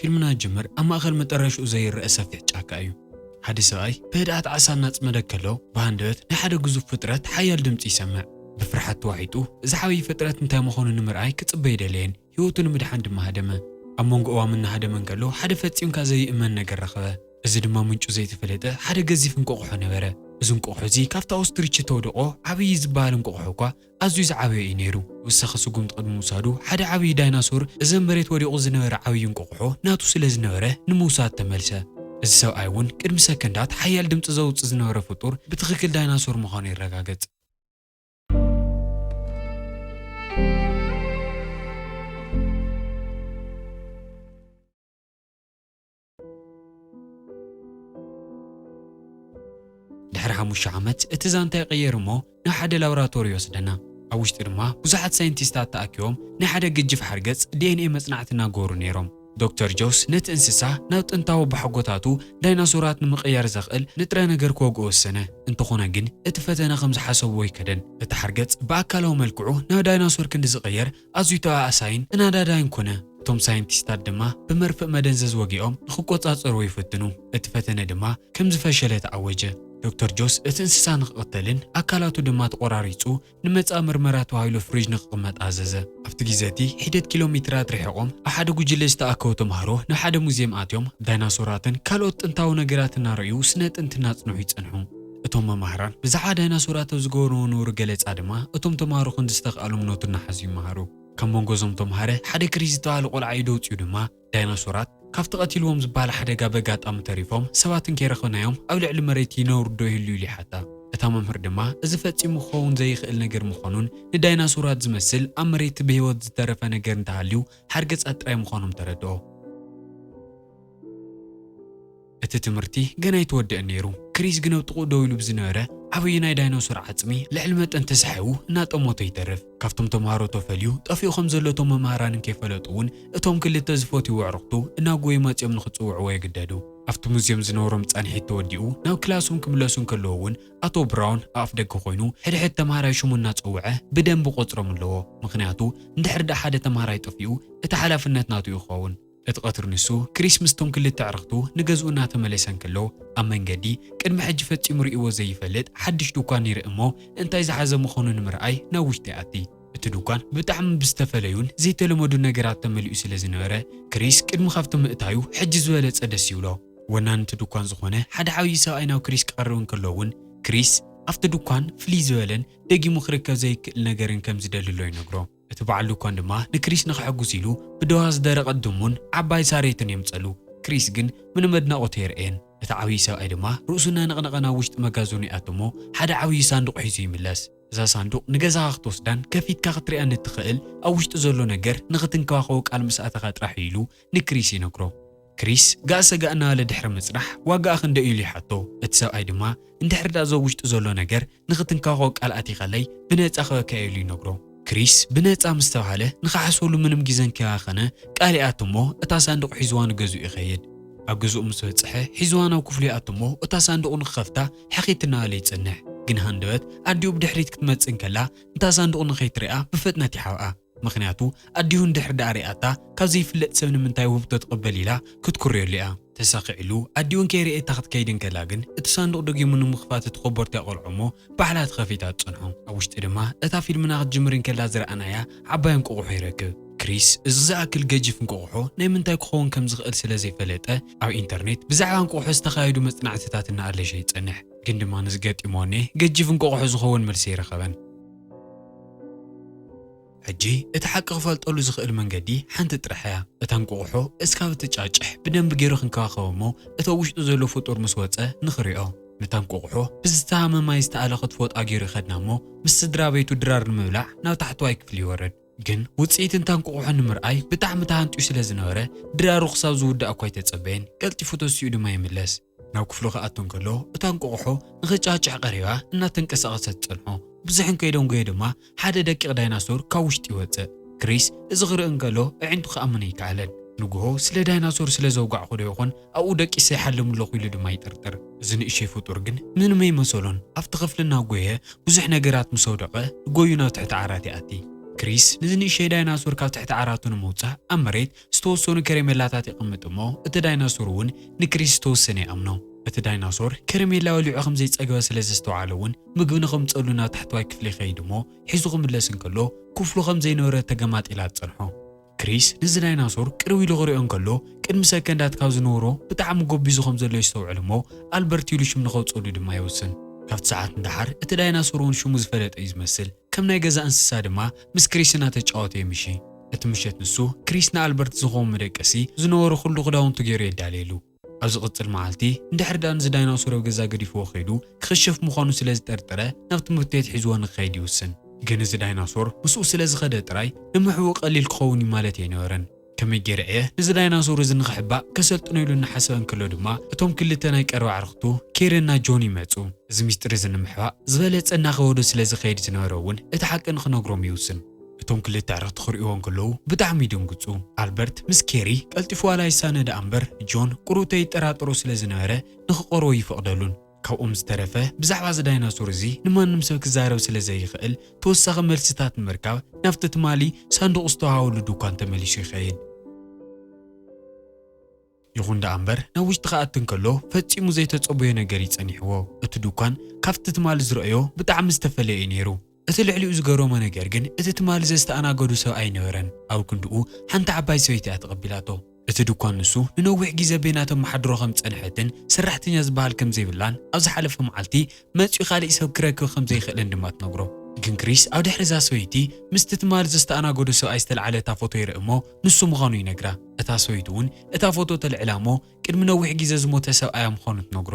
ፊልምና ዝጅምር ኣብ ማእከል መጠረሽኡ ዘይረኣ ሰፊሕ ጫካ እዩ። ሓደ ሰብኣይ ብህድኣት ዓሳ እናጽመደ ከሎ፣ ብሃንደበት ናይ ሓደ ግዙፍ ፍጥረት ሓያል ድምጺ ይሰምዕ። ብፍርሓት ተዋሒጡ እዚ ዓብዪ ፍጥረት እንታይ ምዃኑ ንምርኣይ ክጽበ ኣይደለየን፣ ህይወቱ ንምድሓን ድማ ሃደመ። ኣብ መንጎ እዋም እናሃደመ እንከሎ ሓደ ፈጺምካ ዘይእመን ነገር ረኸበ። እዚ ድማ ምንጩ ዘይተፈለጠ ሓደ ገዚፍ እንቋቑሖ ነበረ። እዚ እንቋቑሖ እዚ ካብቲ ኦስትሪች እተውደቖ ዓብዪ ዝበሃል እንቋቑሖ እኳ ኣዝዩ ዝዓበየ እዩ ነይሩ። ወሳኺ ስጉምቲ ቅድሚ ምውሳዱ፣ ሓደ ዓብዪ ዳይናሶር፣ እዚ ኣብ መሬት ወዲቑ ዝነበረ ዓብዪ እንቋቑሖ ናቱ ስለ ዝነበረ፣ ንምውሳድ ተመልሰ። እዚ ሰብኣይ እውን ቅድሚ ሰከንዳት ሓያል ድምጺ ዘውጽእ ዝነበረ ፍጡር ብትኽክል ዳይናሶር ምዃኑ የረጋገጽ። ድሕሪ ሓሙሽተ ዓመት እቲ ዛንታ ይቕየር እሞ ናብ ሓደ ላብራቶሪ ይወስደና። ኣብ ውሽጢ ድማ ብዙሓት ሳይንቲስታት ተኣኪቦም ናይ ሓደ ግጅፍ ሓርገጽ ዲኤንኤ መጽናዕቲ እናገበሩ ነይሮም። ዶክተር ጆስ ነቲ እንስሳ ናብ ጥንታዊ ኣቦሓጎታቱ ዳይናሶራት ንምቕያር ዘኽእል ንጥረ ነገር ክወግኦ ወሰነ። እንተኾነ ግን እቲ ፈተነ ከም ዝሓሰብዎ ኣይከደን። እቲ ሓርገጽ ብኣካላዊ መልክዑ ናብ ዳይናሶር ክንዲ ዝቕየር ኣዝዩ ተበኣሳይን ተናዳዳይን ኮነ። እቶም ሳይንቲስታት ድማ ብመርፍእ መደንዘዝ ወጊኦም ንኽቈጻጸርዎ ይፍትኑ፣ እቲ ፈተነ ድማ ከም ዝፈሸለ ተኣወጀ። ዶክተር ጆስ እቲ እንስሳ ንኽቕተልን ኣካላቱ ድማ ተቖራሪጹ ንመጻኢ ምርመራ ተባሂሉ ፍሪጅ ንኽቕመጥ ኣዘዘ። ኣብቲ ግዜ እቲ ሒደት ኪሎ ሜትራት ርሒቖም ኣብ ሓደ ጕጅለ ዝተኣከቡ ተማሃሮ ናብ ሓደ ሙዝየም ኣትዮም ዳይናሶራትን ካልኦት ጥንታዊ ነገራትን እናረእዩ ስነ ጥንቲ እናጽንሑ ይጸንሑ። እቶም መማህራን ብዛዕባ ዳይናሶራት ኣብ ዝገበርዎ ንቡር ገለጻ ድማ፣ እቶም ተማሃሮ ክንዲ ዝተኽኣሎም ኖት እናሓዙ ይመሃሩ። ካብ መንጎ እዞም ተማሃረ ሓደ ክሪስ ዝተባህለ ቆልዓ ኢዱ ኣውጺኡ ድማ፣ ዳይናሶራት ካብቲ ቀቲልዎም ዝበሃል ሓደጋ በጋጣሚ ተሪፎም፣ ሰባት እንከይረኸብናዮም ኣብ ልዕሊ መሬት ይነብሩዶ ይህልዩ ኢሉ ይሓታ። እታ መምህር ድማ እዚ ፈጺሙ ክኸውን ዘይኽእል ነገር ምዃኑን ንዳይናሶራት ዝመስል ኣብ መሬት ብህይወት ዝተረፈ ነገር እንተሃልዩ ሓርገጻት ጥራይ ምዃኖም ተረድኦ። እቲ ትምህርቲ ገና ኣይተወድእን ነይሩ። ክሪስ ግን ኣብ ጥቕኡ ደው ኢሉ ብዝነበረ ዓበየናይ ዳይኖሶር ዓጽሚ ልዕሊ መጠን ተሳሒቡ እናጠመቶ ይተርፍ። ካብቶም ተማሃሮ ተፈልዩ ጠፊኡ ከም ዘሎ እቶም መማህራን እንከይፈለጡ እውን እቶም ክልተ ዝፈትይዎ ኣዕሩኽቱ እናጎዩ መጺኦም ንኽጽውዕዎ ይግደዱ። ኣብቲ ሙዝየም ዝነበሮም ጻንሒት ተወዲኡ ናብ ክላሶም ክምለሱ እንከለዉ እውን ኣቶ ብራውን ኣብ ኣፍደገ ኮይኑ ሕድሕድ ተማሃራይ ሽሙ እናጸውዐ ብደምብ ይቖጽሮም ኣለዎ። ምኽንያቱ እንድሕር ደኣ ሓደ ተማሃራይ ጠፊኡ እቲ ሓላፍነት ናቱ እዩ ክኸውን። እቲ ቀትሪ ንሱ፣ ክሪስ ምስቶም ክልተ ኣዕርኽቱ ንገዝኡ እናተመለሰ እንከሎ፣ ኣብ መንገዲ፣ ቅድሚ ሕጂ ፈጺሙ ርእይዎ ዘይፈልጥ ሓድሽ ድኳን ይርኢ እሞ፣ እንታይ ዝሓዘ ምኾኑ ንምርኣይ ናብ ውሽጢ ይኣቲ። እቲ ድኳን ብጣዕሚ ብዝተፈለዩን ዘይተለመዱን ነገራት ተመሊኡ ስለ ዝነበረ፣ ክሪስ ቅድሚ ካብቲ ምእታዩ ሕጂ ዝበለጸ ደስ ይብሎ። ወናኒ እቲ ድኳን ዝኾነ ሓደ ዓብዪ ሰብኣይ ናብ ክሪስ ክቐርብ እንከሎ እውን፣ ክሪስ ኣብቲ ድኳን ፍልይ ዝበለን ደጊሙ ክርከብ ዘይክእል ነገርን ከም ዝደሊ ኣሎ ይነግሮ። እቲ በዓል ድኳን ድማ ንክሪስ ንኸሐጕስ ኢሉ ብደዋ ዝደረቐት ድሙን ዓባይ ሳሬትን የምጽኣሉ። ክሪስ ግን ምንም ኣድናቖት ኣየርእየን። እቲ ዓብዪ ሰብኣይ ድማ ርእሱ እናነቕነቐ ናብ ውሽጢ መጋዘኑ ይኣቱ እሞ ሓደ ዓብዪ ሳንዱቕ ሒዙ ይምለስ። እዛ ሳንዱቕ ንገዛኻ ክትወስዳን ከፊትካ ክትርእያን እትኽእል ኣብ ውሽጡ ዘሎ ነገር ንኽትንከባኸቦ ቃል ምስ ኣተኻ ጥራሕ እዩ ኢሉ ንክሪስ ይነግሮ። ክሪስ ጋእ ሰጋእ እናበለ ድሕሪ ምጽናሕ ዋጋኣ ክንደይ'ዩ ኢሉ ይሓቶ። እቲ ሰብኣይ ድማ እንድሕሪ ድኣ እዞ ውሽጢ ዘሎ ነገር ንኽትንካኾ ቃል ኣቲኸለይ ብነጻ ክህበካ'የ ኢሉ ይነግሮ። ክሪስ ብነጻ ምስ ተባህለ ንኽሓስበሉ ምንም ግዘን ከይባኸነ ቃል ይኣቲ'ሞ እታ ሳንዱቕ ሒዝዋ ንገዝኡ ይኸይድ። ኣብ ገዝኡ ምስ በጽሐ ሒዝዋ ናብ ክፍሉ ይኣቲ'ሞ እታ ሳንዱቕ ንኽኸፍታ ሕኺት እናበለ ይጽንሕ። ግን ሃንደበት ኣዲኡ ብድሕሪት ክትመጽእ እንከላ ንታ ሳንዱቕ ንኸይትሪኣ ብፍጥነት ይሓብኣ። ምኽንያቱ ኣዲኡ እንድሕር ደኣ ሪኣታ ካብ ዘይፍለጥ ሰብ ንምንታይ ውህብቶ ትቕበል ኢላ ክትኩርየሉ እያ። ተሳኺዕሉ ኣዲኡ እንከይረኤታ ክትከይድ እንከላ ግን እቲ ሳንዱቕ ደጊሙ ንምኽፋት እቲ ኮቦርታ የቖልዖ እሞ ባዕላ ተኸፊታ ትጸንሖ። ኣብ ውሽጢ ድማ እታ ፊልምና ክትጅምር እንከላ ዝረኣናያ ዓባይ እንቆቑሖ ይረክብ። ክሪስ እዚ ዝኣክል ገጂፍ እንቆቑሖ ናይ ምንታይ ክኸውን ከም ዝኽእል ስለ ዘይፈለጠ ኣብ ኢንተርኔት ብዛዕባ እንቆቑሖ ዝተኻየዱ መጽናዕትታት እናኣለሸ ይጸንሕ። ግን ድማ ንዝገጢሞ ኔህ ገጂፍ እንቆቑሖ ዝኸውን መልሲ ኣይረኸበን። ሕጂ እቲ ሓቂ ክፈልጠሉ ዝኽእል መንገዲ ሓንቲ ጥራሕ እያ። እታ እንቁቑሖ እስካብ እትጫጭሕ ብደንቢ ገይሩ ክንከባኸቦ እሞ እቲ ኣብ ውሽጡ ዘሎ ፍጡር ምስ ወጸ ንኽሪኦ። ነታ እንቁቑሖ ብዝተሃመ ማይ ዝተኣለ ክትፎጣ ገይሩ ይኸድና እሞ ምስ ስድራቤቱ ድራር ንምብላዕ ናብ ታሕተዋይ ክፍሊ ይወርድ። ግን ውጽኢት እታ እንቁቑሖ ንምርኣይ ብጣዕሚ ተሃንጥዩ ስለ ዝነበረ ድራሩ ክሳብ ዝውዳእ እኳ ኣይተጸበየን፣ ቀልጢፉ ተሲኡ ድማ ይምለስ። ናብ ክፍሉ ክኣቱ እንከሎ እታ እንቆቕሖ ንኽጫጭሕ ቀሪባ እናተንቀሳቐሰት ትጸንሖ። ብዙሕ እንከይደንጎየ ድማ ሓደ ደቂቕ ዳይናሶር ካብ ውሽጢ ይወጽእ። ክሪስ እዚ ክርኢ እንከሎ ኣዒንቱ ክኣምን ኣይከኣለን። ንግሆ ስለ ዳይናሶር ስለ ዘውጋዕኩዶ ይኾን ኣብኡ ደቂሰ ይሓልም ኣለኹ ኢሉ ድማ ይጥርጥር። እዚ ንእሽቶይ ፍጡር ግን ምንም ኣይመሰሎን። ኣብቲ ክፍሊ እናጎየ ብዙሕ ነገራት ምስ ኣውደቐ ጎዩ ናብ ትሕቲ ዓራት ይኣቲ። ክሪስ ነዚ ንእሽቶይ ዳይናሶር ካብ ትሕቲ ዓራቱ ንምውጻእ ኣብ መሬት ዝተወሰኑ ከረሜላታት የቐምጥ እሞ እቲ ዳይናሶር እውን ንክሪስ ዝተወሰነ ይኣምኖ። እቲ ዳይናሶር ከረሜላ በሊዑ ከም ዘይጸገበ ስለ ዘስተውዓለ እውን ምግቢ ንኸምጸሉ ናብ ታሕተዋይ ክፍሊ ይኸይድ እሞ ሒዙ ክምለስ እንከሎ ክፍሉ ከም ዘይነበረት ተገማጢላ ትጸንሖ። ክሪስ ነዚ ዳይናሶር ቅርብ ኢሉ ክሪኦ እንከሎ ቅድሚ ሰከንዳት ካብ ዝነበሮ ብጣዕሚ ጎቢዙ ከም ዘሎ የስተውዕል እሞ ኣልበርት ኢሉ ሽም ንኸውጸሉ ድማ ይውስን። ካብቲ ሰዓት ንደሓር እቲ ዳይናሶር እውን ሽሙ ዝፈለጠ እዩ ዝመስል። ከም ናይ ገዛ እንስሳ ድማ ምስ ክሪስ እናተጫወተ የምሺ። ነቲ ምሸት ንሱ፣ ክሪስ ንኣልበርት ዝኸውን መደቀሲ ዝነበሮ ኹሉ ክዳውንቱ ገይሩ የዳልየሉ። ኣብ ዝቕጽል መዓልቲ፣ እንድሕር ደኣ ነዚ ዳይናሶር ኣብ ገዛ ገዲፍዎ ከይዱ፣ ክኽሸፍ ምዃኑ ስለ ዝጠርጠረ ናብ ትምህርቲ ቤት ሒዝዎ ንክኸይድ ይውስን። ግን እዚ ዳይናሶር ምስኡ ስለ ዝኸደ ጥራይ ንምሕብኡ ቀሊል ክኸውን እዩ ማለት ኣይነበረን። ከመይ ገይረ እየ ነዚ ዳይናሶር እዚ ንኽሕባእ ከሰልጥኖ ኢሉ እናሓሰበ እንከሎ ድማ፣ እቶም ክልተ ናይ ቀረባ ኣዕርኽቱ ኬረን እና ጆን ይመጹ። እዚ ምስጢር እዚ ንምሕባእ ዝበለጸ እናኸበዶ ስለ ዝኸይድ ዝነበረ እውን እቲ ሓቂ ንኽነግሮም ይውስን። እቶም ክልተ ኣዕርኽቲ ክርእይዎ እንከለዉ ብጣዕሚ ይድንግጹ። ኣልበርት ምስ ኬሪ ቀልጢፉ ዋላ ይሳነ ደኣ እምበር ጆን ቁርብተ ይጠራጠሮ ስለ ዝነበረ ንኽቐርቦ ኣይፈቕደሉን። ካብኦም ዝተረፈ ብዛዕባ እዚ ዳይናሶር እዚ ንማንም ሰብ ክዛረብ ስለ ዘይኽእል ተወሳኺ መልስታት ንምርካብ ናብቲ ትማሊ ሳንዱቕ ዝተወሃበሉ ድኳን ተመሊሱ ይኸይድ። ይኹን ደኣ እምበር ናብ ውሽጢ ክኣቲ እንከሎ ፈጺሙ ዘይተጸበዮ ነገር እዩ ጸኒሕዎ። እቲ ዱኳን ካብቲ ትማሊ ዝረኣዮ ብጣዕሚ ዝተፈለየ እዩ ነይሩ። እቲ ልዕሊኡ ዝገረሞ ነገር ግን እቲ ትማሊ ዘዝተኣናገዱ ሰብ ኣይነበረን። ኣብ ክንድኡ ሓንቲ ዓባይ ሰበይቲ እያ ተቐቢላቶ። እቲ ዱኳን ንሱ ንነዊሕ ግዜ በይና ተመሓድሮ ከም ዝጸንሐትን ሰራሕተኛ ዝበሃል ከም ዘይብላን ኣብ ዝሓለፈ መዓልቲ መጺኡ ካልእ ሰብ ክረክብ ከም ዘይክእልን ድማ ትነግሮ። ግን ክሪስ ኣብ ድሕሪ እዛ ሰበይቲ ምስቲ ትማል ዘስተኣናገዶ ሰብኣይ ዝተልዓለ እታ ፎቶ ይርኢ እሞ ንሱ ምዃኑ ይነግራ። እታ ሰበይቲ እውን እታ ፎቶ ተልዕላ እሞ ቅድሚ ነዊሕ ግዜ ዝሞተ ሰብኣያ ምዃኑ ትነግሮ።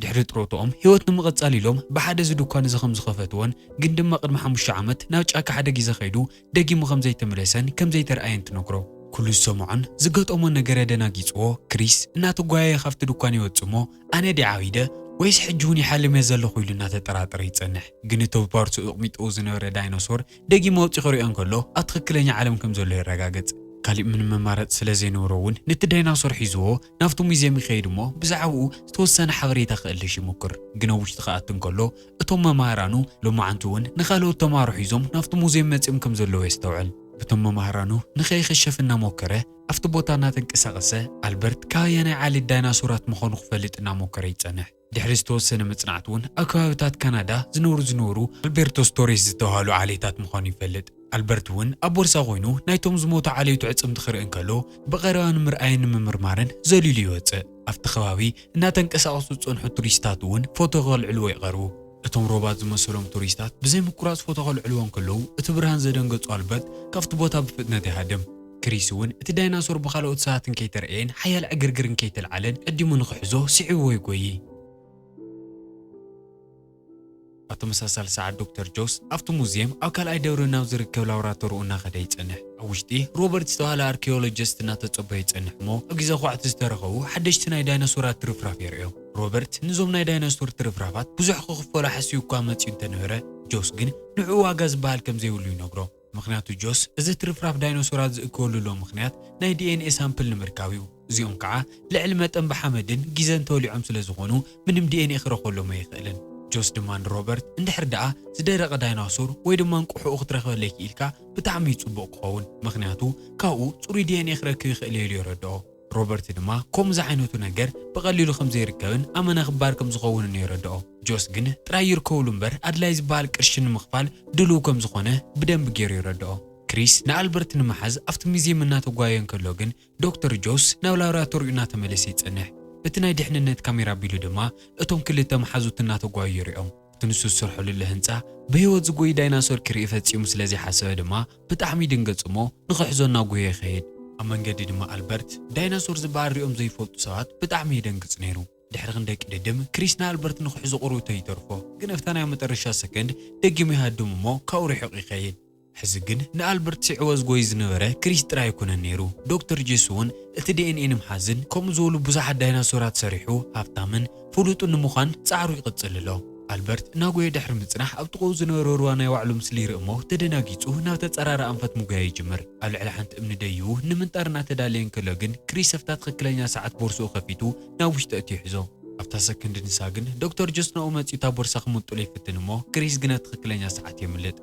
ድሕሪ ጥሮትኦም ህይወት ንምቕጻል ኢሎም ብሓደ እዚ ድኳን እዚ ከም ዝኸፈትዎን ግን ድማ ቅድሚ ሓሙሽተ ዓመት ናብ ጫካ ሓደ ግዜ ከይዱ ደጊሙ ከም ዘይተመለሰን ከም ዘይተርኣየን ትነግሮ። ኩሉ ዝሰምዖን ዝገጠሞን ነገረ ደናጊጽዎ፣ ክሪስ እናተጓየየ ካብቲ ድኳን ይወጽእ እሞ፣ ኣነ ድየ ዓቢደ ወይስ ሕጂ'ውን ይሓልም'የ ዘለኹ ኢሉ እናተጠራጠረ ይጸንሕ። ግን እቲ ብፓርትኡ ኣቕሚጥዎ ዝነበረ ዳይኖሶር ደጊሙ ኣውጺኡ ክርእዮ እንከሎ፣ ኣብ ትኽክለኛ ዓለም ከም ዘሎ የረጋግጽ። ካሊእ ምንም መማረጺ ስለ ዘይነበሮ'ውን ነቲ ዳይናሶር ሒዝዎ ናብቲ ሙዝየም ይኸይድ እሞ፣ ብዛዕባኡ ዝተወሰነ ሓበሬታ ከእልሽ ይሙኩር። ግን ኣብ ውሽጢ ክኣቲ እንከሎ፣ እቶም መማህራኑ ሎማዓንቲ'ውን ንካልኦት ተማሃሮ ሒዞም ናብቲ ሙዝየም መጺኦም ከም ዘለዉ የስተውዕል። በቶም መማህራኑ ንከይኽሸፍ እናሞከረ ኣብቲ ቦታ እናተንቀሳቐሰ፣ ኣልበርት ካብ ኣየናይ ዓሌት ዳይናሶራት ምዃኑ ክፈልጥ እናሞከረ ይጸንሕ። ድሕሪ ዝተወሰነ መጽናዕቲ'ውን ኣብ ከባቢታት ካናዳ ዝነብሩ ዝነበሩ ኣልቤርቶስ ቶሬስ ዝተባህሉ ዓሌታት ምዃኑ ይፈልጥ። ኣልበርት እውን ኣብ ቦርሳ ኮይኑ ናይቶም ዝሞቱ ዓሌቱ ኣዕጽምቲ ክርኢ እንከሎ ብቐረባ ንምርኣይን ንምምርማርን ዘሊሉ ይወጽእ። ኣብቲ ከባቢ እናተንቀሳቐሱ ዝጸንሑ ቱሪስታት እውን ፎቶ ከልዕልዎ ይቐርቡ። እቶም ሮባት ዝመሰሎም ቱሪስታት ብዘይ ምቁራጽ ፎቶ ከልዕልዎ እንከለዉ እቲ ብርሃን ዘደንገጾ ኣልበርት ካብቲ ቦታ ብፍጥነት ይሃድም። ክሪስ እውን እቲ ዳይናሶር ብኻልኦት ሰባት እንከይተርኣየን ሓያል ዕግርግር እንከይተልዓለን ቀዲሙ ንኽሕዞ ስዒብዎ ይጎዪ። ኣብ ተመሳሳሊ ሰዓት ዶክተር ጆስ ኣብቲ ሙዝየም ኣብ ካልኣይ ደብሪ ናብ ዝርከብ ላቦራቶርኡ እናኸደ ይጸንሕ። ኣብ ውሽጢ፣ ሮበርት ዝተባህለ ኣርኪዮሎጂስት እናተጸበዮ ይጸንሕ እሞ ኣብ ግዜ ኳዕቲ ዝተረኸቡ ሓደሽቲ ናይ ዳይኖሶራት ትርፍራፍ የርእዮም። ሮበርት ንዞም ናይ ዳይኖሶር ትርፍራፋት ብዙሕ ክኽፈሎ ሓሲቡ እኳ መጺኡ እንተነበረ፣ ጆስ ግን ንዕኡ ዋጋ ዝበሃል ከም ዘይብሉ ይነግሮ። ምኽንያቱ ጆስ እዚ ትርፍራፍ ዳይኖሶራት ዝእከወሉሎ ምኽንያት ናይ ዲኤንኤ ሳምፕል ንምርካብ እዩ። እዚኦም ከኣ ልዕሊ መጠን ብሓመድን ጊዘን ተወሊዖም ስለ ዝኾኑ ምንም ዲኤንኤ ክረኽበሎም ኣይኽእልን። ጆስ ድማ ንሮበርት እንድሕር ደኣ ዝደረቐ ዳይናሶር ወይ ድማ እንቁሑኡ ክትረኽበለይ ክኢልካ ብጣዕሚ እዩ ጽቡቕ ክኸውን ምኽንያቱ ካብኡ ጽሩይ ዲኤንኤ ክረክብ ይኽእል እየ ኢሉ የረድኦ። ሮበርት ድማ ከምኡ ዝዓይነቱ ነገር ብቐሊሉ ከም ዘይርከብን ኣመና ክባር ከም ዝኸውንን የረድኦ። ጆስ ግን ጥራይ ይርከቡሉ እምበር ኣድላዪ ዝበሃል ቅርሺ ንምኽፋል ድሉው ከም ዝኾነ ብደንቢ ገይሩ የረድኦ። ክሪስ ንኣልበርት ንምሓዝ ኣብቲ ሙዝየም እናተጓየየ እንከሎ ግን ዶክተር ጆስ ናብ ላብራቶሪኡ እናተመለሰ ይጸንሕ። በቲ ናይ ድሕንነት ካሜራ ኣቢሉ ድማ እቶም ክልተ መሓዙት እናተጓዩ ይሪኦም። እቲ ንሱ ዝሰርሖ ልዕሊ ህንጻ ብህይወት ዝጎይ ዳይናሶር ክርኢ ፈጺሙ ስለ ዘይሓሰበ ድማ ብጣዕሚ ይድንገጽ እሞ ንኽሕዞ እናጎየ ይኸይድ። ኣብ መንገዲ ድማ ኣልበርት ዳይናሶር ዝበሃል ሪኦም ዘይፈልጡ ሰባት ብጣዕሚ የደንግጽ ነይሩ። ድሕሪ ክንደይ ቅድድም ክሪስ ንኣልበርት ንኽሕዞ ቁሩብ ተይተርፎ ግን ኣብታ ናይ መጠረሻ ሰከንድ ደጊሙ ይሃድም እሞ ካብኡ ሪሒቑ ይኸይድ። ሕዚ ግን ንኣልበርት ስዒዎ ዝጎይ ዝነበረ ክሪስ ጥራይ ኣይኮነን ነይሩ። ዶክተር ጄሱ'ውን እቲ ዲኤንኤ ንምሓዝን ከምኡ ዝበሉ ብዙሓት ዳይናሶራት ሰሪሑ ሃብታምን ፍሉጥን ንምዃን ጻዕሩ ይቕጽል ኣሎ። ኣልበርት እናጎየ ድሕሪ ምጽናሕ ኣብ ጥቕኡ ዝነበረ ሩባ ናይ ባዕሉ ምስሊ ይርኢ እሞ ተደናጊጹ ናብ ተጻራሪ ኣንፈት ምጉያይ ይጅምር። ኣብ ልዕሊ ሓንቲ እምኒ ደይቡ ንምንጣር እናተዳለየ እንከሎ ግን ክሪስ ኣብታ ትኽክለኛ ሰዓት ቦርስኡ ከፊቱ ናብ ውሽጢ ኣእትዩ ይሕዞ። ኣብታ ሰከንድ ንሳ ግን ዶክተር ጄስ ናብኡ መጺኡ እታ ቦርሳ ክምንጥሎ ይፍትን እሞ ክሪስ ግን ኣብ ትኽክለኛ ሰዓት የምልጥ።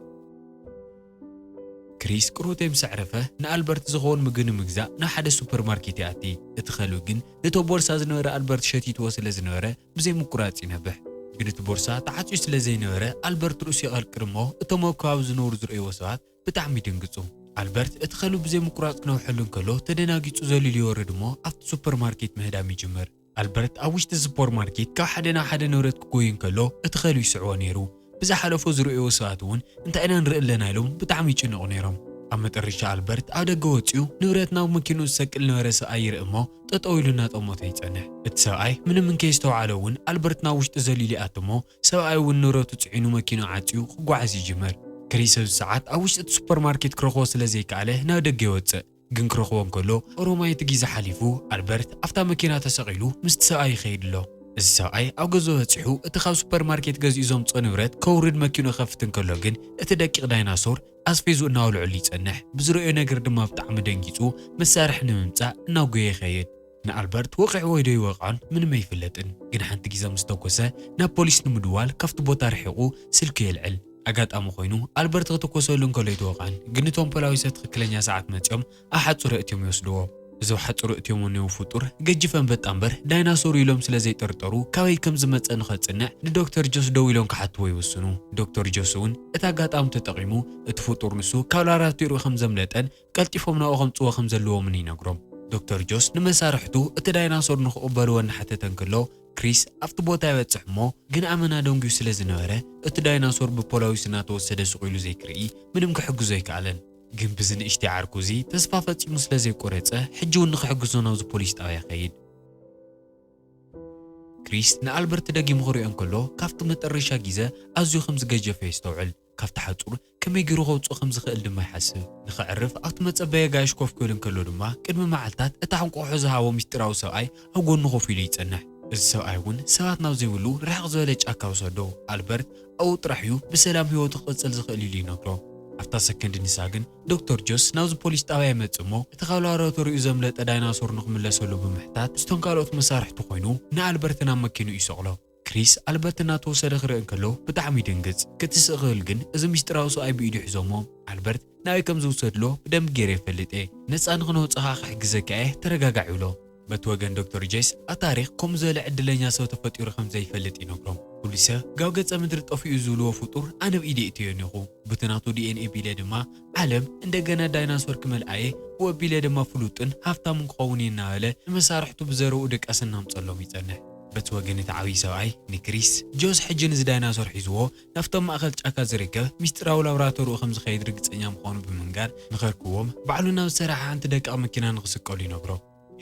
ክሪስ ቅሩቴ ምስ ኣዕረፈ፣ ንኣልበርት ዝኸውን ምግቢ ንምግዛእ ናብ ሓደ ሱፐርማርኬት ይኣቲ። እቲ ከልቢ ግን ነቶ ቦርሳ ዝነበረ ኣልበርት ሸቲትዎ ስለ ዝነበረ ብዘይምቁራጽ ይነብሕ። ግን እቲ ቦርሳ ተዓጽዩ ስለ ዘይነበረ ኣልበርት ርእሱ የቐርቅር እሞ እቶም ኣብ ከባቢ ዝነብሩ ዝርእይዎ ሰባት ብጣዕሚ ይድንግጹ። ኣልበርት እቲ ከልቢ ብዘይምቁራጽ ክነብሐሉ እንከሎ ተደናጊጹ ዘሊሉ ይወርድ እሞ ኣብቲ ሱፐርማርኬት ምህዳም ይጅምር። ኣልበርት ኣብ ውሽጢ ስፖርማርኬት ካብ ሓደ ናብ ሓደ ንብረት ክጎዪ እንከሎ እቲ ከልቢ ይስዕቦ ነይሩ። ብዝሓለፎ ዝርእይዎ ሰባት እውን እንታይ ኢና ንርኢ ኣለና ኢሎም ብጣዕሚ ይጭነቑ ነይሮም። ኣብ መጠረሻ ኣልበርት ኣብ ደገ ወጺኡ ንብረት ናብ መኪንኡ ዝሰቅል ዝነበረ ሰብኣይ ይርኢ እሞ ጠጠው ኢሉ እናጠመቶ ይጸንሕ። እቲ ሰብኣይ ምንም እንከየስተውዓሎ እውን ኣልበርት ናብ ውሽጢ ዘሊሉ ይኣቱ እሞ ሰብኣይ እውን ንብረቱ ጽዒኑ መኪንኡ ዓጽዩ ክጓዓዝ ይጅምር። ክሪስ ኣብዚ ሰዓት ኣብ ውሽጢ እቲ ሱፐርማርኬት ክረኽቦ ስለዘይከኣለ ናብ ደገ ይወጽእ። ግን ክረኽቦ እንከሎ ኦሮማይ እቲ ጊዘ ሓሊፉ ኣልበርት ኣፍታ መኪና ተሰቒሉ ምስቲ ሰብኣይ ይኸይድ ኣሎ። እዚ ሰብኣይ ኣብ ገዝኡ በጺሑ እቲ ካብ ሱፐር ማርኬት ገዚኡ ዘምጽኦ ንብረት ከውርድ መኪኑ ክኸፍት እንከሎ ግን እቲ ደቂቕ ዳይናሶር ኣስፌዙ እናወልዐሉ ይጸንሕ። ብዝረእዮ ነገር ድማ ብጣዕሚ ደንጊጹ መሳርሒ ንምምጻእ እናጎየ ይኸይድ። ንኣልበርት ወቒዕዎ'ዩ ዶ ኣይወቕዖን ምንም ኣይፍለጥን፣ ግን ሓንቲ ግዘ ምስ ተኮሰ ናብ ፖሊስ ንምድዋል ካብቲ ቦታ ርሒቑ ስልኪ የልዕል። ኣጋጣሚ ኮይኑ ኣልበርት ክትኮሰሉ እንከሎ ኣይተወቕዐን፣ ግን እቶም ፖላዊሰ ትኽክለኛ ሰዓት መፂኦም ኣብ ሓፁረ እትዮም ይወስድዎ። እዞብ ሓፁሩ እትዮም ወንዮ ፍጡር ገጂፍ ኣንበጣ እምበር ዳይናሶር'ዩ ኢሎም ስለ ዘይጠርጠሩ ካበይ ከም ዝመፀ ንኸፅንዕ ንዶክተር ጆስ ደው ኢሎም ክሓትዎ ይውስኑ። ዶክተር ጆስ'ውን እቲ ኣጋጣሚ ተጠቒሙ እቲ ፍጡር ንሱ ካብ ላብራቶሪኡ ከም ዘምለጠን ቀልጢፎም ናብኡ ከምጽዎ ከም ዘለዎምን ይነግሮም። ዶክተር ጆስ ንመሳርሕቱ እቲ ዳይናሶር ንኽቕበልዎ እናሓተተ እንከሎ፣ ክሪስ ኣብቲ ቦታ ይበጽሕ እሞ ግን ኣመና ደንጉዩ ስለ ዝነበረ እቲ ዳይናሶር ብፖላዊስ እናተወሰደ ሱቕ ኢሉ ዘይክርኢ ምንም ክሕግዞ ኣይከኣለን። ግን ብዚ ንእሽተይ ዓርኩ እዚ ተስፋ ፈጺሙ ስለ ዘይቆረጸ ሕጂ እውን ንኽሕግዞ ናብዚ ፖሊስ ጣብያ ይኸይድ። ክሪስ ንኣልበርት ደጊሙ ክሪኦ እንከሎ ካብቲ መጠረሻ ጊዘ ኣዝዩ ከም ዝገጀፈ የስተውዕል። ካብቲ ሓጹር ከመይ ገይሩ ከውጽኦ ከም ዝኽእል ድማ ይሓስብ። ንኸዕርፍ ኣብቲ መጸበዪ ኣጋይሽ ኮፍ ክብል እንከሎ ድማ፣ ቅድሚ መዓልታት እታ እንቋቝሖ ዝሃቦ ምስጢራዊ ሰብኣይ ኣብ ጐድኑ ኮፍ ኢሉ ይጸንሕ። እዚ ሰብኣይ እውን ሰባት ናብ ዘይብሉ ርሕቕ ዝበለ ጫካ ወሰዶ። ኣልበርት ኣብኡ ጥራሕ እዩ ብሰላም ህይወቱ ክቕጽል ዝኽእል ኢሉ ይነግሮ። ኣብታ ሰከንድ ንሳ ግን ዶክተር ጆስ ናብዚ ፖሊስ ጣብያ ይመጽእ እሞ እቲ ካብ ላብራቶሪኡ ዘምለጠ ዳይናሶር ንኽምለሰሉ ብምሕታት ምስቶም ካልኦት መሳርሕቱ ኰይኑ ንኣልበርት ናብ መኪንኡ ይሰቕሎ። ክሪስ ኣልበርት እናተወሰደ ክርኢ እንከሎ ብጣዕሚ ይድንግጽ። ክትስእ ክብል ግን እዚ ምስጢራዊ ሰብኣይ ብኢዱ ሒዞሞ። ኣልበርት ናበይ ከም ዝውሰድሎ ብደንቢ ገይረ እፈልጥ እየ። ነጻ ንኽነውጽእ ከኣ ክሕግዘካ እየ ተረጋጋዕ ይብሎ። በቲ ወገን ዶክተር ጀይስ ኣብ ታሪኽ ከምኡ ዝበለ ዕድለኛ ሰብ ተፈጢሩ ከም ዘይፈልጥ ይነግሮም። ፖሊሰ ጋብ ገጸ ምድሪ ጠፊኡ ዝብልዎ ፍጡር ኣነ ብኢደ እእትዮ ኔኹ። ቡቲ ናቱ ዲኤንኤ ቢለ ድማ ዓለም እንደገና ዳይናሶር ክመልኣ እየ፣ ብኡ ኣቢለ ድማ ፍሉጥን ሃፍታምን ክኸውን እየ እናበለ ንመሳርሕቱ ብዘረብኡ ድቃስ እናምጸሎም ይጸንሕ። በቲ ወገን እቲ ዓብዪ ሰብኣይ ንክሪስ፣ ጆስ ሕጂ ነዚ ዳይናሶር ሒዝዎ ናብቲ ኣብ ማእከል ጫካ ዝርከብ ምስጢራዊ ላብራቶርኡ ከም ዝኸይድ ርግጸኛ ምዃኑ ብምንጋር ንኸርክቦም ባዕሉ ናብ ዝሰርሓ ሓንቲ ደቃቕ መኪና ንኽስቀሉ ይነግሮ።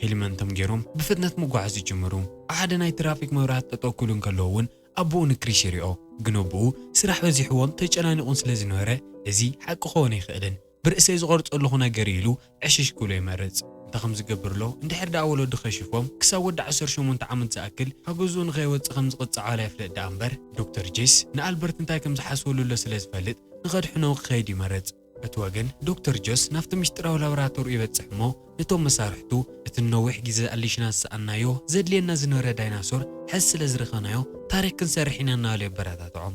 ሄልመንቶም ገይሮም ብፍጥነት ምጕዓዝ ይጅምሩ። ኣብ ሓደ ናይ ትራፊክ መብራህቲ ጠጠው ክብሉ እንከለዉ እውን ኣቦኡ ንክሪስ ይሪኦ፣ ግን ኣቦኡ ስራሕ በዚሕዎን ተጨናኒቑን ስለ ዝነበረ እዚ ሓቂ ክኸውን ኣይክእልን። ብርእሰይ ዝቐርጾ ኣለኹ ነገር ኢሉ ዕሽሽ ክብሎ ይመርጽ። እንታይ ከም ዝገብር ኣሎ፣ እንድሕር ደኣ ወለዱ ከሺፎም፣ ክሳብ ወዲ ዓሰርተ ሸሞንተ ዓመት ዝኣክል ካብ ገዝኡ ንኸይወጽእ ከም ዝቕጽዖ ኣይፍለጥ ደኣ እምበር፣ ዶክተር ጄስ ንኣልበርት እንታይ ከም ዝሓስበሉ ዘሎ ስለ ዝፈልጥ ንኸድሕኖ ክኸይድ ይመርጽ። በቲ ወገን ዶክተር ጄስ ናብቲ ምስጢራዊ ላቦራቶሪኡ ይበጽሕ እሞ ነቶም መሳርሕቱ፣ እቲ ንነዊሕ ግዜ ኣሊሽና ዝሰኣንናዮ ዘድልየና ዝነበረ ዳይናሶር ሕዚ ስለ ዝረኸብናዮ ታሪኽ ክንሰርሕ ኢና እናበለ የበረታትዖም።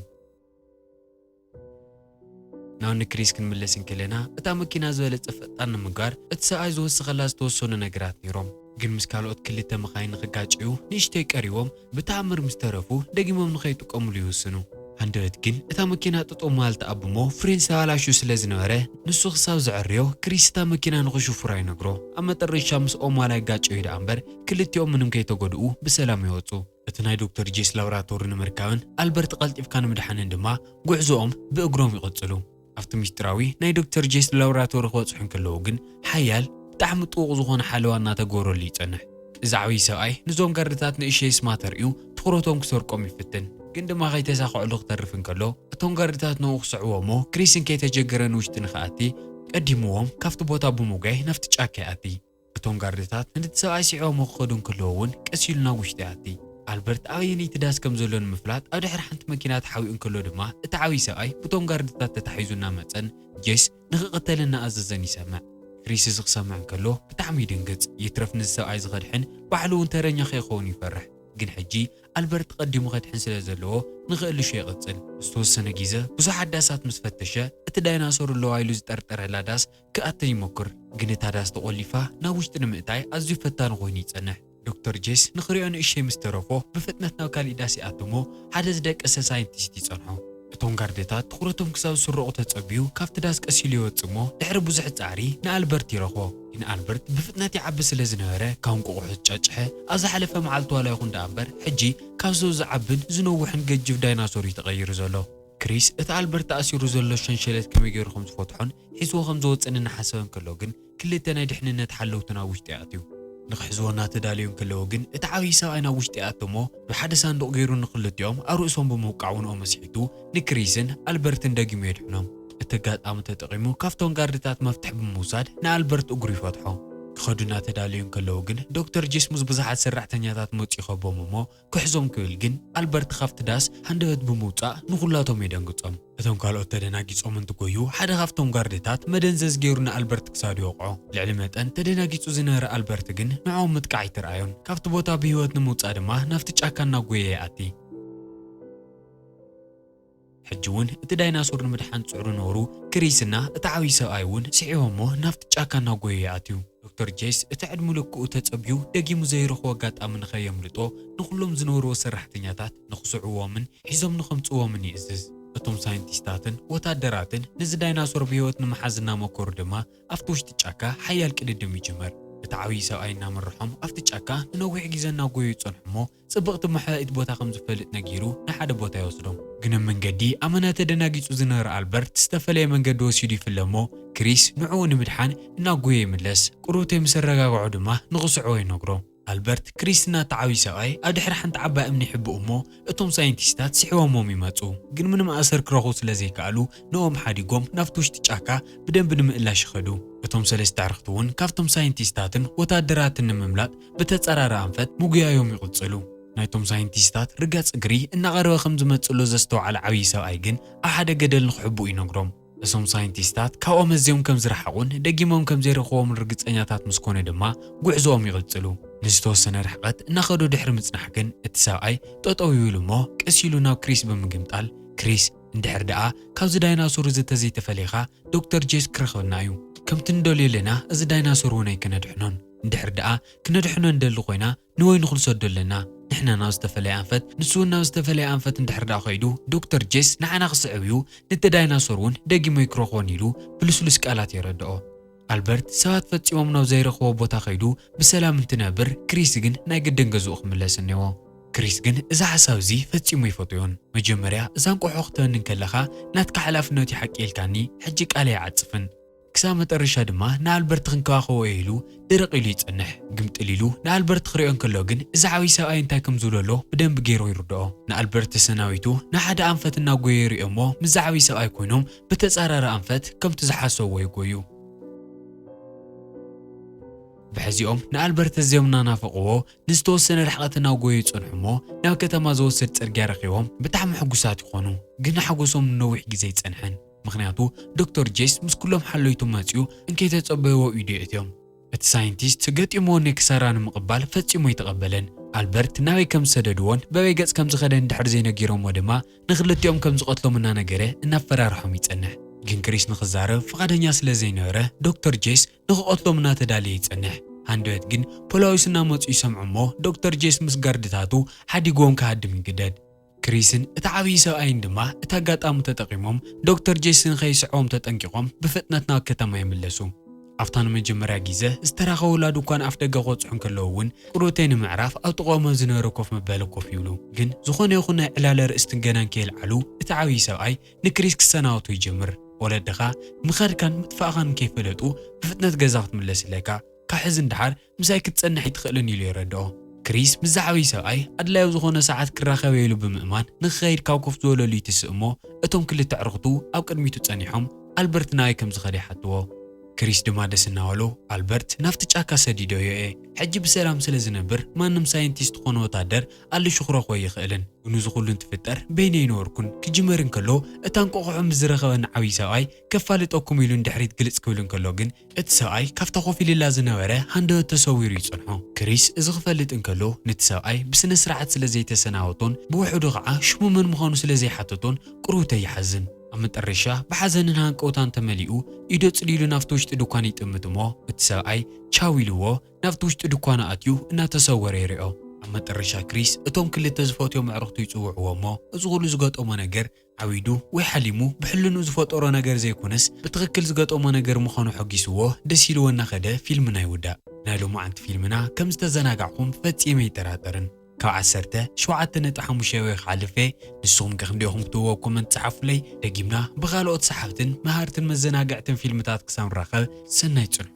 ናብ ንክሪስ ክንምለስ እንከለና እታ መኪና ዝበለጸ ፈጣን ንምግባር እቲ ሰብኣይ ዝወሰኸላ ዝተወሰኑ ነገራት ነይሮም ግን ምስ ካልኦት ክልተ መኻይን ንኽጋጨዩ ንእሽተይ ቀሪቦም ብተኣምር ምስ ተረፉ ደጊሞም ንኸይጥቀምሉ ይውስኑ። ሃንደበት ግን እታ መኪና ጠጠው ምባል ትኣብ'ሞ ፍሬን ዝተባላሹ ስለ ዝነበረ ንሱ ክሳብ ዘዐርዮ ክሪስ እታ መኪና ንኽሹፍራ ይነግሮ። ኣብ መጠረሻ ምስኦም ዋላ ይጋጨዩ ደኣ'ምበር ክልቲኦም ምንም ከይተጎድኡ ብሰላም ይወጹ። እቲ ናይ ዶክተር ጄስ ላብራቶሪ ንምርካብን ኣልበርት ቀልጢፍካ ንምድሓንን ድማ ጉዕዞኦም ብእግሮም ይቕጽሉ። ኣብቲ ምስጢራዊ ናይ ዶክተር ጄስ ላብራቶሪ ክበጽሑ እንከለዉ ግን ሓያል ብጣዕሚ ጥዉቕ ዝኾነ ሓለዋ እናተገበረሉ ይጸንሕ። እዚ ዓብዪ ሰብኣይ ንዞም ጋርድታት ንእሽተይ ስማ ተርእዩ ትኹረቶም ክሰርቆም ይፍትን ግን ድማ ከይተሳኸዐሉ ክተርፍ እንከሎ እቶም ጋርድታት ንኡ ክስዕብዎ እሞ ክሪስን ከይተጀገረ ንውሽጢ ንክኣቲ ቀዲምዎም ካብቲ ቦታ ብምጉያይ ናብቲ ጫካ ይኣቲ። እቶም ጋርድታት ነቲ ሰብኣይ ስዒቦሞ ክኸዱ እንከለዉ እውን ቀስ ኢሉ ናብ ውሽጢ ይኣቲ። ኣልበርት ኣበየነይቲ ዳስ ከም ዘሎ ንምፍላጥ ኣብ ድሕሪ ሓንቲ መኪና ተሓቢኡ እንከሎ ድማ እቲ ዓብዪ ሰብኣይ ብቶም ጋርድታት ተታሒዙ እናመጸን ጄስ ንኽቕተልን እናኣዘዘን ይሰምዕ። ክሪስ እዚ ክሰምዕ እንከሎ ብጣዕሚ ይድንግጽ። ይትረፍ ነዚ ሰብኣይ እዚ ከድሕን ባዕሉ እውን ተረኛ ከይኸውን ይፈርሕ። ግን ሕጂ ኣልበርት ቀዲሙ ከድሕን ስለ ዘለዎ ንክእልሹ ይቕጽል። ዝተወሰነ ግዘ ብዙሓት ዳሳት ምስ ፈተሸ እቲ ዳይናሶር ኣለዋ ኢሉ ዝጠርጠረላ ዳስ ክኣተን ይሞክር፣ ግን እታ ዳስ ተቖሊፋ ናብ ውሽጢ ንምእታይ ኣዝዩ ፈታኒ ኰይኑ ይጸንሕ። ዶክተር ጄስ ንኽሪኦ ንእሽተይ ምስ ተረፎ ብፍጥነት ናብ ካልእ ዳስ ይኣቱ እሞ ሓደ ዝደቀሰ ሳይንቲስት ይጸንሖ። እቶም ጋርድታት ትዅረቶም ክሳብ ዝስረቑ ተጸብዩ ካብቲ ዳስ ቀስ ኢሉ ይወጽእ እሞ ድሕሪ ብዙሕ ጻዕሪ ንኣልበርት ይረኽቦ። ግን ኣልበርት ብፍጥነት ይዓቢ ስለ ዝነበረ ካብ እንቋቝሖ ዝጫጭሐ ኣብ ዝሓለፈ መዓልቲ ዋላ ይኹን ደኣ እምበር ሕጂ ካብ ሰው ዝዓብን ዝነውሕን ገጅፍ ዳይናሶር እዩ ተቐይሩ ዘሎ። ክሪስ እቲ ኣልበርት ኣእሲሩ ዘሎ ሸንሸለት ከመይ ገይሩ ከም ዝፈትሖን ሒዝዎ ከም ዝወጽእን እናሓሰበ እንከሎ ግን ክልተ ናይ ድሕንነት ሓለውቱ ናብ ውሽጢ ኣእትዩ። ንክሕዝዎ እናተዳለዩ እንከለዉ ግን እቲ ዓብዪ ሰብኣይ ናብ ውሽጢ ኣተሞ ናብ ሓደ ሳንዱቕ ገይሩ ንክልቲኦም ኣብ ርእሶም ብምውቃዕ ውንኦም ኣስሒቱ ንክሪስን ኣልበርትን ደጊሙ የድሕኖም። እቲ ኣጋጣሚ ተጠቒሙ ካብቶም ጋርድታት መፍትሕ ብምውሳድ ንኣልበርት እግሩ ይፈትሖ። ክኸዱ እናተዳለዩ እንከለዉ ግን ዶክተር ጂስሙዝ ብዙሓት ሰራሕተኛታት መጹ ይኸቦም እሞ ክሕዞም ክብል ግን ኣልበርት ኻብቲ ዳስ ሃንደበት ብምውጻእ ንዅላቶም የደንግጾም። እቶም ካልኦት ተደናጊጾም እንትጐዩ፣ ሓደ ኻብቶም ጋርድታት መደንዘዝ ገይሩ ንኣልበርት ክሳዱ ይወቕዖ። ልዕሊ መጠን ተደናጊጹ ዝነበረ ኣልበርት ግን ንዕኦም ምጥቃዕ ኣይተራእዮን። ካብቲ ቦታ ብህይወት ንምውጻእ ድማ ናብቲ ጫካ እናጐየየ ይኣቲ። ሕጂ ውን እቲ ዳይናሶር ንምድሓን ጽዕሩ ነበሩ፣ ክሪስ እና እቲ ዓብዪ ሰብኣይ ውን ስሒቦሞ ናብቲ ጫካ እናጎየዩ ይኣትዩ። ዶክተር ጄስ እቲ ዕድሙ ልክኡ ተጸብዩ ደጊሙ ዘይረኽቦ ኣጋጣሚ ንኸየምልጦ ንኹሎም ዝነበርዎ ሰራሕተኛታት ንኽስዕብዎምን ሒዞም ንኸምጽእዎምን ይእዝዝ። እቶም ሳይንቲስታትን ወታደራትን ነዚ ዳይናሶር ብህይወት ንምሓዝ እናመኮሩ ድማ ኣብቲ ውሽጢ ጫካ ሓያል ቅድድም ይጅመር። እቲ ዓብዪ ሰብኣይ እናመርሖም ኣብቲ ጫካ ንነዊሕ ግዜ እናጎየዩ ይጸንሑ'ሞ ጽብቕቲ መሐኢት ቦታ ከም ዝፈልጥ ነጊሩ ንሓደ ቦታ ይወስዶም። ግን ኣብ መንገዲ ኣመና ተደናጊጹ ዝነበረ ኣልበርት ዝተፈለየ መንገዲ ወሲዱ ይፍለ እሞ ክሪስ ንዕኡ ንምድሓን እናጎየ ይምለስ። ቁርብተይ ምስ ኣረጋግዖ ድማ ንኽስዕቦ ይነግሮ። ኣልበርት ክሪስ እናተዓብዩ ሰብኣይ ኣብ ድሕሪ ሓንቲ ዓባይ እምኒ ይሕብኡ እሞ እቶም ሳይንቲስታት ስሒቦሞም ይመጹ። ግን ምንም ኣሰር ክረኽቡ ስለ ዘይከኣሉ ንእኦም ሓዲጎም ናብቲ ውሽጢ ጫካ ብደንቢ ንምእላሽ ይኸዱ። እቶም ሰለስተ ኣዕርኽቲ'ውን ካብቶም ሳይንቲስታትን ወተሃደራትን ንምምላጥ ብተጸራሪ ኣንፈት ምጉያዮም ይቕጽሉ። ናይቶም ሳይንቲስታት ርጋጽ እግሪ እናቐረበ ከም ዝመጽእ'ሎ ዘስተውዓለ ዓብዪ ሰብኣይ ግን ኣብ ሓደ ገደል ንኽሕብኡ ይነግሮም። እቶም ሳይንቲስታት ካብኦም ኣዝዮም ከም ዝረሓቑን ደጊሞም ከም ዘይረኽብዎምን ርግጸኛታት ምስ ኮነ ድማ ጉዕዞኦም ይቕጽሉ። ንዝተወሰነ ርሕቐት እናኸዱ ድሕሪ ምጽናሕ ግን እቲ ሰብኣይ ጠጠው ይብል'ሞ ቀስ ኢሉ ናብ ክሪስ ብምግምጣል፣ ክሪስ፣ እንድሕር ደኣ ካብዚ ዳይናሶር እዚ ተዘይተፈሊኻ ዶክተር ጄስ ክረኽበና እዩ። ከምቲ ንደልዮ ለና እዚ ዳይናሶር እውን ኣይከነድሕኖን። እንድሕር ደኣ ክነድሕኖ እንደሊ ኮይና ንወይኑ ክንሰዶ ኣለና። ንሕና ናብ ዝተፈለየ ኣንፈት ንሱውን ናብ ዝተፈለየ ኣንፈት እንድሕር ደኣ ከይዱ ዶክተር ጄስ ንዓና ክስዕብ እዩ ንቲ ዳይናሶር እውን ደጊሙ ኣይክረኽቦን ኢሉ ብልስሉስ ቃላት የረድኦ። ኣልበርት ሰባት ፈጺሞም ናብ ዘይረኽቦ ቦታ ከይዱ ብሰላም እንትነብር ክሪስ ግን ናይ ግድን ገዝኡ ክምለስ እኔዎ። ክሪስ ግን እዚ ሓሳብ እዚ ፈጺሙ ኣይፈቶዮን። መጀመርያ እዛ እንቆሖ ክትበኒ እንከለኻ ናትካ ሓላፍነት እዩ ሓቂ ኢልካኒ ሕጂ ቃለይ ኣይዓጽፍን። ክሳብ መጠረሻ ድማ ንኣልበርት ክንከባኸቦ እየ ኢሉ ድርቕ ኢሉ ይጸንሕ። ግምጥል ኢሉ ንኣልበርት ክሪኦ እንከሎ ግን እዚ ዓብይ ሰብኣይ እንታይ ከም ዝብሎ ኣሎ ብደንቢ ገይሩ ይርድኦ። ንኣልበርት ተሰናቢቱ ንሓደ ኣንፈት እናጎየ ይሪኦ እሞ ምስዚ ዓብይ ሰብኣይ ኮይኖም ብተጻራሪ ኣንፈት ከምቲ ዝሓሰብዎ ይጎዩ። ብሕዚኦም ንኣልበርት ኣዝዮም እናናፈቕዎ ንዝተወሰነ ርሕቐት እናጎዩ ይጸንሑ እሞ ናብ ከተማ ዝወስድ ጽርግያ ረኺቦም ብጣዕሚ ሕጉሳት ይኾኑ። ግና ሓጎሶም ንነዊሕ ግዜ ኣይጸንሐን። ምኽንያቱ ዶክተር ጄስ ምስ ኩሎም ሓለይቱ መጺኡ እንከይተጸበይዎ ኢዩ ኣእትዮም። እቲ ሳይንቲስት ገጢምዎ እኔ ክሳራ ንምቕባል ፈጺሙ ኣይተቐበለን። ኣልበርት ናበይ ከም ዝሰደድዎን በበይ ገጽ ከም ዝኸደ እንድሕር ዘይነጊሮምዎ ድማ ንኽልቲኦም ከም ዝቐትሎም እናነገረ እናፈራርሖም ይጸንሕ። ግን ክሪስ ንኽዛረብ ፍቓደኛ ስለ ዘይነበረ ዶክተር ጄስ ንኽቐትሎም እናተዳለየ ይጸንሕ። ሃንደበት ግን ፖላዊስ እናመጹ ይሰምዑ እሞ ዶክተር ጄስ ምስ ጋርድታቱ ሓዲግዎም ክሃድም ይግደድ። ክሪስን እቲ ዓብዪ ሰብኣይን ድማ እቲ ኣጋጣሚ ተጠቒሞም ዶክተር ጄሲ ንኸይስዕቦም ተጠንቂቖም ብፍጥነት ናብ ከተማ ይምለሱ። ኣብታ ንመጀመርያ ግዘ ዝተራኸቡላ ድኳን ኣፍደገ ክበጽሑ እንከለዉ እውን ቅርብተይ ንምዕራፍ ኣብ ጥቐኦም ኣብ ዝነበረ ኮፍ መበሊ ኮፍ ይብሉ። ግን ዝኾነ ይኹን ናይ ዕላል ኣርእስቲ ገና እንከየልዓሉ እቲ ዓብዪ ሰብኣይ ንክሪስ ክሰናበቶ ይጀምር። ወለድኻ ምኻድካን ምጥፋእኻን እንከይፈለጡ ብፍጥነት ገዛ ክትምለስ ኣለካ። ካብ ሕዚ ንደሓር ምሳይ ክትጸንሕ ኣይትኽእልን ኢሉ የረድኦ። ክሪስ ምስዚ ዓብዪ ሰብኣይ ኣድላዪ ኣብ ዝኾነ ሰዓት ክራኸብ ኢሉ ብምእማን ንክኸይድ ካብ ኮፍ ዝበለሉ ይትስእ እሞ እቶም ክልተ ኣዕሩኽቱ ኣብ ቅድሚቱ ጸኒሖም ኣልበርት ናበይ ከም ዝኸደ ይሓትዎ። ክሪስ ድማ ደስ እናበሎ ኣልበርት ናብቲ ጫካ ሰዲደዮ እየ። ሕጂ ብሰላም ስለ ዝነብር ማንም ሳይንቲስት ኾነ ወታደር ኣልሹ ክረኽቦ ኣይኽእልን። ግኑ እዚ ኹሉ እንትፍጠር በይነይ ነበርኩን። ክጅመር እንከሎ እታ እንቋቑሖ ምስ ዝረኸበኒ ዓብዪ ሰብኣይ ከፋልጠኩም ኢሉ ንድሕሪት ግልጽ ክብል እንከሎ ግን፣ እቲ ሰብኣይ ካብታ ኮፍ ኢልላ ዝነበረ ሃንደበት ተሰዊሩ ይጸንሖ። ክሪስ እዚ ክፈልጥ እንከሎ፣ ነቲ ሰብኣይ ብስነ-ስርዓት ስለ ዘይተሰናበቶን ብውሑዱ ኸኣ ሽሙ መን ምዃኑ ስለ ዘይሓተቶን ቁርውተይ ይሓዝን። ኣብ መጠረሻ ብሓዘንን ሃንቀውታን ተመሊኡ ኢዱ ኣጽሊሉ ናብቲ ውሽጢ ድኳን ይጥምት እሞ እቲ ሰብኣይ ቻው ኢልዎ ናብቲ ውሽጢ ድኳኑ ኣትዩ እናተሰወረ ይሪኦ። ኣብ መጠረሻ ክሪስ እቶም ክልተ ዝፈትዮም ኣዕሩኽቱ ይጽውዕዎ እሞ እዚ ኩሉ ዝገጠሞ ነገር ዓዊዱ ወይ ሓሊሙ ብሕልንኡ ዝፈጠሮ ነገር ዘይኮነስ ብትኽክል ዝገጠሞ ነገር ምዃኑ ሐጒስዎ ደስ ኢልዎ እናኸደ ፊልምና ይውዳእ። ናይ ሎማዓንቲ ፊልምና ከም ዝተዘናጋዕኹም ፈጺመ ኣይጠራጠርን። ካብ ዓሰርተ ሸውዓተ ነጥቢ ሓሙሽተ ወይ ኸዓ ልፌ ንስኹምከ ክንደይ ኢኹም ክትብዎ ኣብ ኮመንት ጸሓፉለይ። ደጊምና ብኻልኦት ሰሓብትን መሃርትን መዘናግዕትን ፊልምታት ክሳብ ንራኸብ ሰናይ ጽንሑ።